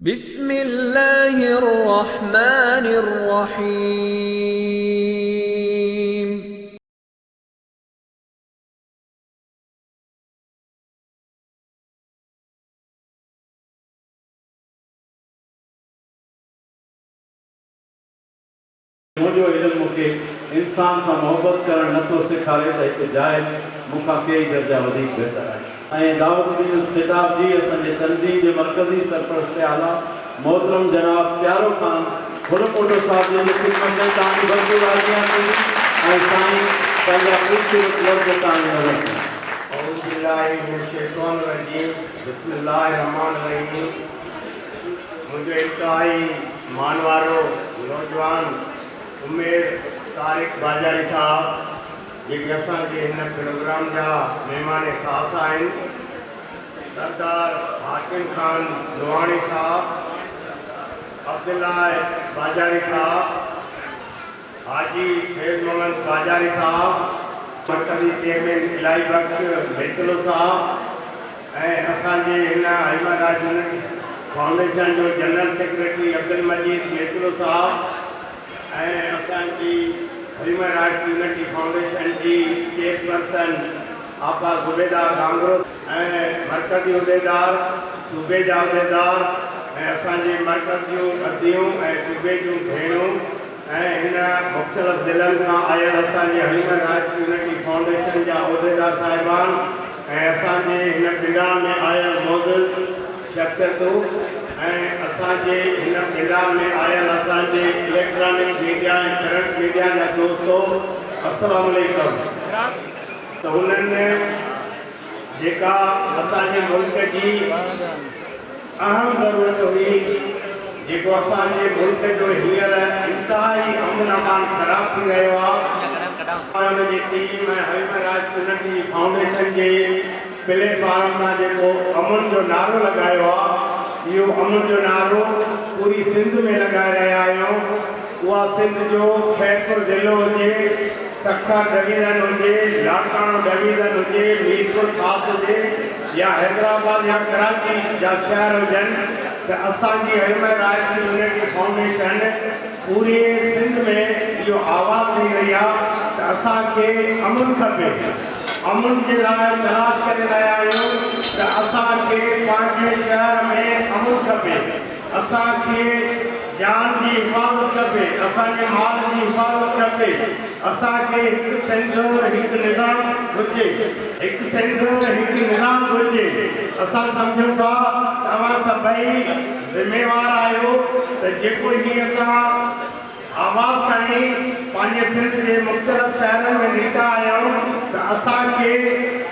بسم الله الرحمٰن الرحيم. منهنجو علم مون کي انسان سان محبت ڪرڻ نه ٿو سيکاري ته هڪ جاهل مون کان ڪيئي درجا وڌيڪ بهتر آهي. ۽ دعوت ڏيندس خطاب جي اسان جي تنظيم جي مرڪزي سرپرست اعليٰ محترم جناب پيارو خان ڦل موٽو صاحب جن جي خدمت ۾ توهان جي ڀرپور حاضريان ٿيندي ۽ سائين پنهنجا خوبصورت لفظ توهان جي نظر ۾ اعوذ بالله من الشيطان الرجيم بسم الله الرحمٰن الرحيم منهنجو انتهائي. مان وارو نوجوان امير طارق باجاري صاحب جيڪي اسان جي هن پروگرام جا مهمان خاص آهن، سردار حاڪم خان لوهاڻي صاحب، عبدالله باجاري صاحب، حاجي فيض محمد باجاري صاحب، مرڪزي چيئرمين الاهي بخش ميتلو صاحب ۽ اسان جي هن هيومن رائيٽس يونٽ فائونڊيشن جو جنرل سيڪريٽري عبدالمجيد ميتلو صاحب ۽ اسان جي هيومن رائيٽس يونٽ فائونڊيشن جي چيئرپرسن آپا زبيده گانگرو ۽ مرڪزي عهديدار، صوبي جا عهديدار ۽ اسان جي مرڪز جون اديون ۽ صوبي جون ڀيڻون ۽ هن مختلف ضلعن کان آيل اسان جي هيومن رائٽس يونٽي فائونڊيشن جا عهديدار صاحبان ۽ اسان جي هن پنڊال ۾ آيل معزز شخصيتون ۽ اسان جي هن پنڊال ۾ آيل اسان جي اليڪٽرانڪ ميڊيا ۽ پرنٽ ميڊيا جا دوستو السلام عليڪم. ته انهن جيڪا اسان جي ملڪ جي اهم ضرورت هئي، جيڪو اسان جي ملڪ جو هينئر انتهائي امن امان خراب ٿي رهيو آهي، ان جي ٽيم ۽ هيومن رائٽس ڪميٽي جي فائونڊيشن جي. پليٽ فارم تان جيڪو امن جو نعرو لڳايو آ اهو امن جو نعرو پوري سنڌ ۾ لڳائي رهيا آهيون اها سنڌ جو خيرپور ضلعو هجي سکر ڊويزن هجي لاڙڪاڻو ڊويزن هجي ميرپور خاص هجي يا حيدرآباد يا ڪراچي جا شهر هجن ته اسان جي M I rights unity foundation پوريء سنڌ ۾ اهو آواز ڏئي رهي آ ته اسان کي امن کپي، امن جي لاء تلاش ڪري رهيا آهيون ته اسان کي پنهنجي شهر ۾ امن کپي، اسان کي جان جي حفاظت کپي، اسان جي مال جي حفاظت کپي، اسان کي هڪ سنڌ هڪ نظام گهرجي، هڪ سنڌ هڪ نظام گهرجي، اسان سمجهون ٿا ته اوهان سڀئي ذميوار آهيو ته جيڪو هي اسان آواز تائين پنهنجي سنڌ جي مختلف شهرن ۾ نڪتا آهيون ته اسان کي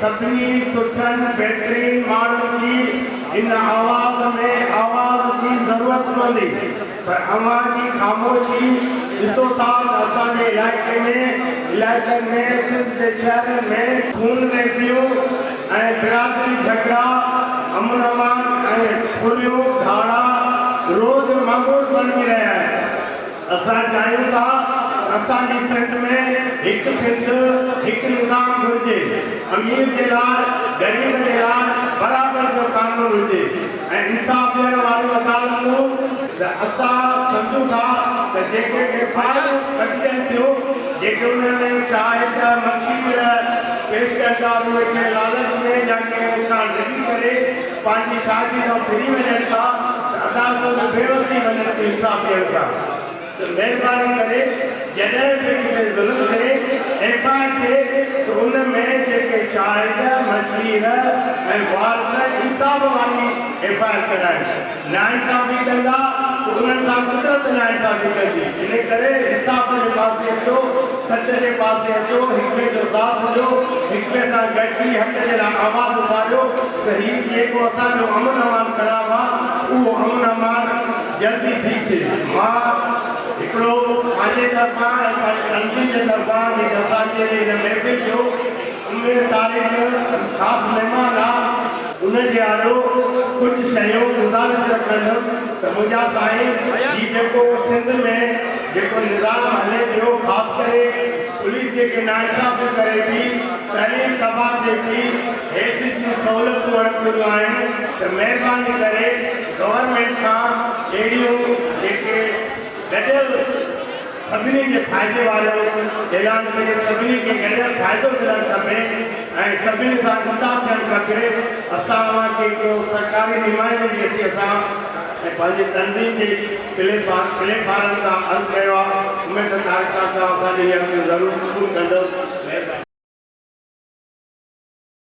سڀني سٺن بهترين ماڻهن جي ان آواز ۾ آواز جي ضرورت پوندي پر اوهان جي خاموشي ڏسو ٿا ته اسان جي علائقي ۾ علائقن ۾ سنڌ جي شهرن ۾ خونريزيون ۽ برادري جهڳڙا، امن امان ۽ ڦريون ڌاڙا روز معمول بڻجي رهيا آهن. اسان چاهيون ٿا ته اسان جي سنڌ ۾ هڪ سنڌ هڪ نظام گهرجي، امير جي لاء غريب جي لاء برابر جو قانون هجي. ۽ انصاف ڏيڻ واريون عدالتون ته اسان سمجهون ٿا ته جيڪي ايف آء آر ڪڍجن ٿيون جيڪي انهن ۾ شاهد مشير پيش ڪن ٿا اهي ڪنهن لالچ ۾ يا ڪنهن اتان ڊڄي ڪري پنهنجي شاهدي کان ڦري وڃن ٿا ته عدالتون به بي وس ٿي وڃن ٿيون انصاف ڏيڻ کان. ته مهرباني ڪري جڏهن به ڪٿي ظلم ٿئي ايف آء آر ٿئي ته ان ۾ جيڪي شاهد، مشير ۽ وارث انصاف واري ايف آء آر ڪرائين. ناانصافي ڪندا ته انهن سان قدرت ناانصافي ڪندي. ان ڪري انصاف جي پاسي اچو، سچ جي پاسي اچو، هڪ ٻئي جو ساٿ ڏيو، هڪ ٻئي سان گڏجي حق جي لاء آواز اٿاريو ته هي جيڪو اسان جو امن امان خراب آ اهو امن امان جلدي ٿي پئي. مان هڪڙو پنهنجي طرفان ۽ پنهنجي ننڍڙي جي طرفان جيڪي اسان جي هن محفل جو عمر تاريخ خاص مهمان آ، ان جي آڏو ڪجهه شيون گذارش رکندم ته منهنجا سائين هي جيڪو سنڌ ۾ جيڪو نظام هلي پيو خاص ڪري پوليس جيڪي ناانصافيون ڪري ٿي، تعليم تباهه ٿئي ٿي، هيلٿ جون سهولتون اڻپوريون آهن ته مهرباني ڪري. گورنمينٽ کان اهڙيون جيڪي گڏيل سڀني جي فائدي واريون اعلان ٿئي سڀني کي گڏيل فائدو ملڻ کپي ۽ سڀني سان انصاف ٿيڻ کپي اسان اوهان کي ڪو سرڪاري نمائندي جي حيثيت سان ۽ پنهنجي تنظيم جي پلي پلي فارم تان عرض ڪيو آهي اميد ته طارق صاحب توهان اسان جي هي عرض ضرور قبول ڪندو مهرباني.